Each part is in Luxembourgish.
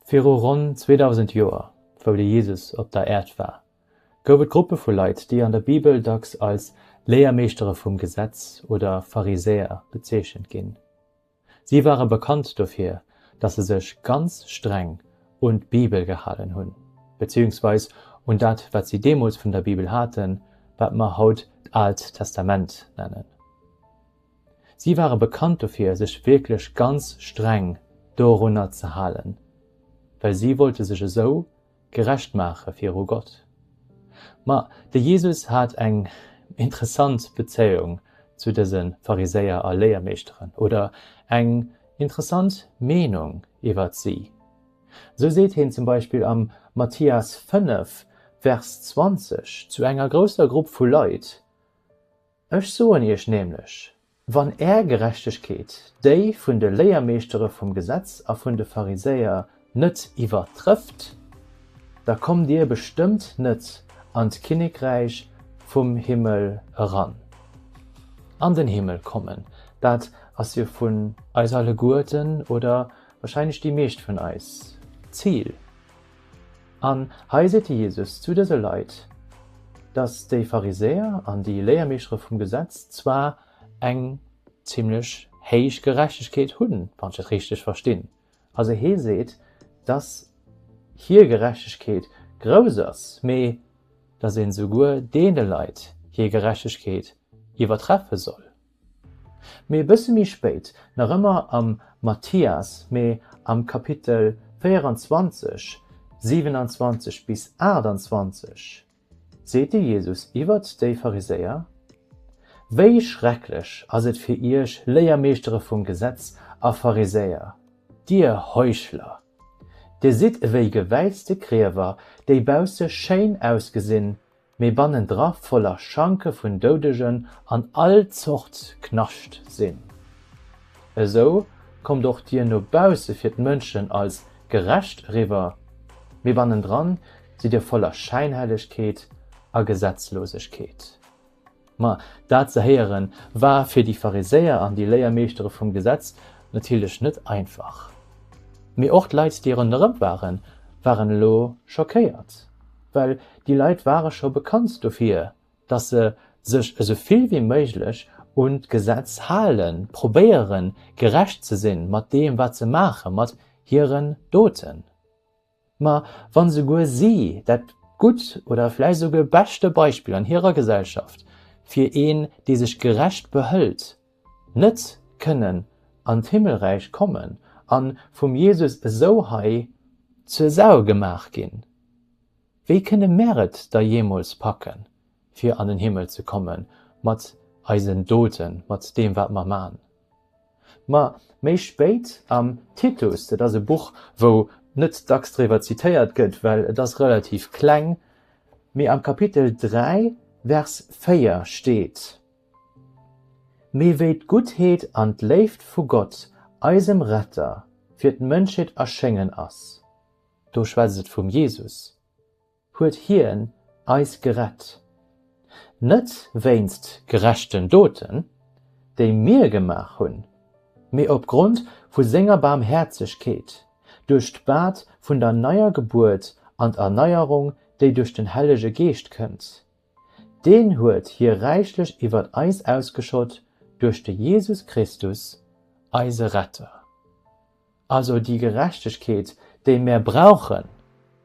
Viru ronn 2.000 Joer, wou de Jesus op der Äerd war, gouf et Gruppe vu Leit, déi an der Bibel dacks als Léiermeeschtere vum Gesetz oder Pharisäer bezeechent ginn. Si ware bekannt dofir, datt se sech ganz streng un d'Bibel gehalen hunn, beziehungsweis un dat, wat si deemools vun der Bibel haten, wat mer haut d'Aalt Testament nennen. Si ware bekannt dofir, sech wierklech ganz streng dorunner ze halen, well si wollte sech esou Gerecht maache viru Gott. Ma de Jesus hat eng interessant Bezéiung zu dëse Pharisäer a Léiermeeschteren, oder eng interessant Meenung iwwert si. Sou seet heen zum Beispill am Mathias 5, Vers 20 zu enger grousser Grupp vu Leit, Ech soen iech nämlech, Wann är Gerechtegkeet déi vun de Léiermeeschtere vum Gesetz a vun de Pharisäer net iwwertrëfft, da kommt dir bestëmmt net an d'Kinnekräich vum Himmel eran. An den Himmel kommen, dat ass jo vun eis alleguerten, oder warscheinlech déi meescht vun eis, d'Zil, An hei seet de Jesus zu dëse Leit, dass déi Pharisäer an déi Léiermeeschtere vum Gesetz zwar eng zimlech héich Gerechtegkeet hunn, wann ech et richteg verstinn. Also hie seet, dass hir Gerechtegkeet grouss ass, mee dass een esouguer deene Leit hir Gerechtegkeet iwwertreffe soll. Mee e bësse méi spéit, nach ëmmer am Mathias, mee am Kapitel 24, 27 bis 28, seet de Jesus iwwert déi Pharisäer, Wéi schrecklech ass et fir iech, Léiermeeschtere vum Gesetz a Pharisäer, dir Heuchler! Dir sidd ewéi gewäitzte Griewer, déi bausse schéin ausgesinn, mee bannendra voller Schanke vun Doudegen an all Zort Knascht sinn. Esou kommt och Dir no bausse fir d'Mënschen als gerecht eriwwer, mee bannendran sidd Dir voller Schäinhellegkeet a Gesetzlosegkeet. Ma dat ze héieren, war fir déi Pharisäer an déi Léiermeeschtere vum Gesetz natierlech net einfach. Mee och d'Leit, déi ronderëm waren, waren elo schockéiert. Well déi Leit ware scho bekannt dofir, datt se sech esou vill wéi méiglech un d'Gesetz halen, probéieren, gerecht ze sinn mat deem, wat se maachen, mat hiren Doten. Ma wa souguer si dat gutt oder vläicht souguer beschte Beispill an hirer Gesellschaft fir een, dee sech gerecht behëlt, net kënnen an d'Himmelräich kommen a vum Jesus esou hei zur Sau gemaach ginn, wéi kënne mär et da jeemools packen, fir an den Himmel ze komme mat eisen Doten, mat deem, wat mer man? Ma méi spéit am Titus, dat ass e Buch, wou net dacks driwwer zitéiert gëtt, well et ass relativ kleng, mee am Kapitel 3, Vers 4 steet, Mee wéi d'Guttheet an d'Léift vu Gott, eisem Retter, fir d'Mënschheet erschéngen ass, do schwätzt et vum Jesus, huet hien eis gerett, net wéinst gerechten Doten, déi mir gemaach hunn, mee opgrond vu senger Baarmhäerzegkeet, duerch d'Bad vun der neier Gebuert an d'Erneierung, déi duerch den Hellege Geescht kënnt. Deen huet hie räichlech iwwer eis ausgeschott duerch de Jesus Christus, eise Retter. Also déi Gerechtegkeet, déi mär brauchen,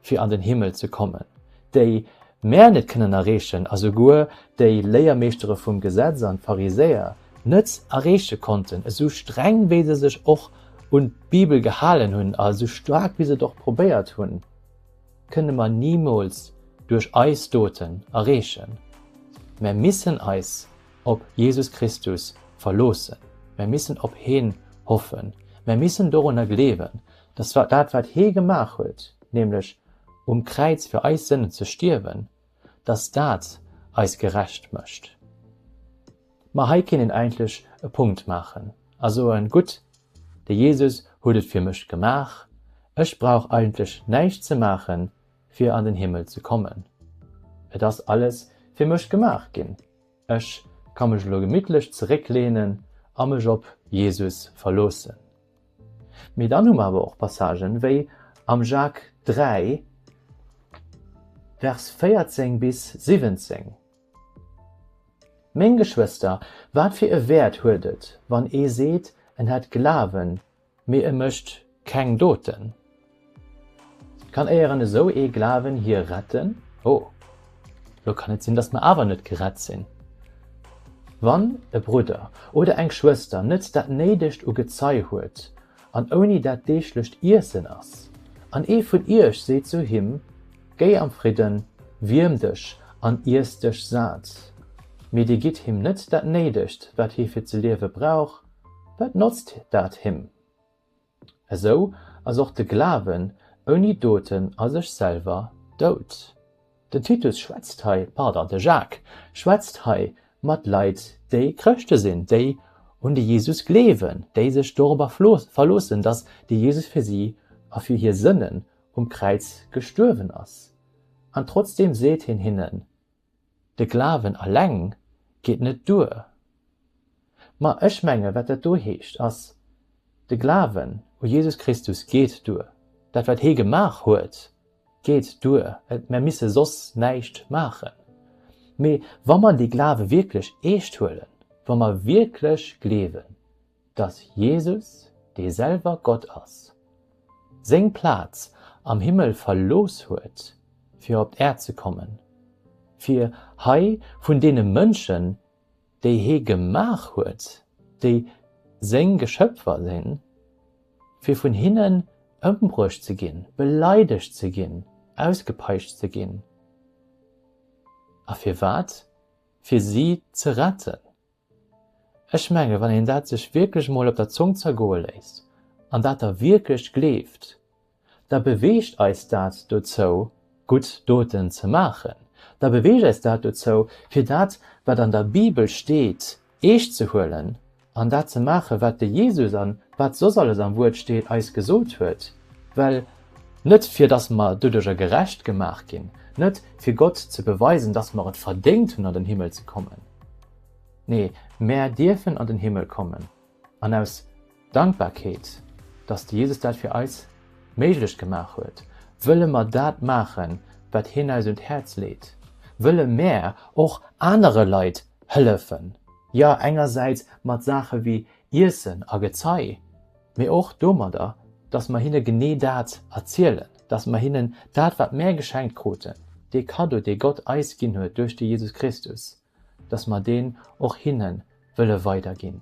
fir an den Himmel ze kommen, déi mär net kënnen erreechen a souguer déi Léiermeeschtere vum Gesetz an d'Pharisäer net erreeche konnten, esou streng wéi se sech och un d'Bibel gehalen hunn a esou staark wéi se et och probéiert hunn, kënne mer nimools duerch eis Doten erreechen. Mär missen eis op Jesus Christus verloossen, mär missen op heen hoffen, mär missen dorunner gleewen, dass dat wat hee gemaach huet, nämlech um Kräiz fir eis Sënnen ze stierwen, dass dat eis gerecht mécht. Ma hei kéint een eigentlech e Punkt maachen a soen, gutt, de Jesus huet et fir mech gemaach, ech brauch eigentlech näischt ze maachen, fir an den Himmel ze kommen, et ass alles fir mech gemaach ginn. Ech ka mech elo gemittlech zeréckleenen a mech op Jesus verloossen. Mee dann hu mer awer och Passagen, wéi am Jak. 3, Vers 14 bis 17, Meng Geschwëster, wat fir e Wäert huet et, wann ee seet, en hätt Glawen, Mee e mecht keng Doten. Kann éieren esou ee Glawen hie retten? Oh, lo kann et sinn, dass mer awer net gerett sinn. Wann e Brudder oder eng Schwëster net dat Néidegt u Gezei huet an ouni dat deeglecht Iessen ass, an ee vun iech seet zu him, Géi am Fridden, wierm dech an iess dech sat, mee dir gitt him net dat Néidegt, wat hie fir ze liewe brauch, Wat notzt dat him? Esou ass och de Glawen ouni Doten a sech selwer dout. Den Titus schwätzt hei, pardon, de Jacques schwätzt hei mat Leit, déi Chrëschte sinn, déi un de Jesus gleewen, déi sech dorobber verloossen, datt de Jesus fir si a fir hir Sënnen um Kräiz gestuerwen ass. An trotzdeem seet hien hinnen, De Glawen alleng geet net duer. Ma ech menge wat dat do heescht ass, de Glawen u Jesus Christus geet duer, dat wat hie gemaach huet geet duer, mer misse soss näischt maachen. Mee wa mer dee Glawe wierklech eescht huelen, wa mer wierklech gleewen, dass Jesus, dee selwer Gott ass, seng Plaz am Himmel verlooss huet, fir op d'Äerd ze kommen, fir hei vun deene Mënschen, déi hie gemaach huet, déi seng Geschöpfer sinn, fir vun hinnen ëmbruecht ze ginn, beleidegt ze ginn, ausgepeitscht ze ginn. A firwat? Fir si ze retten. Ech menge wann een dat sech wierklech emol op der Zong zergoe léisst an dat da wierklech gleeft, da beweegt eis dat dozou gutt Doten ze maachen, da beweegt eis dat dozou fir dat wat an der Bibel steet eescht ze huelen an dat ze maache wat de Jesus an wat soss alles am Wuert steet eis gesot huet, well Net fir dass mer doduerjer gerecht gemaach ginn, net fir Gott ze beweisen, dass mer et verdéngt hunn an den Himmel ze kommen. Nee, mär dierfen an den Himmel kommen an aus Dankbarkeet, dass de Jesus dat fir eis méiglech gemaach huet, wëlle mer dat maachen, wat hien eis un d'Häerz leet, wëlle mär och anere Leit hëllefen, jo engersäits mat Saache wéi Iessen a Gezei, Mee och domadder, dass mer hinne genee dat erzielen, dass mer hinnen dat, wat mär geschenkt kruten, dee Kaddo, dee Gott eis ginn huet duerch de Jesus Christus, dass mer deen och hinne wëlle weiderginn.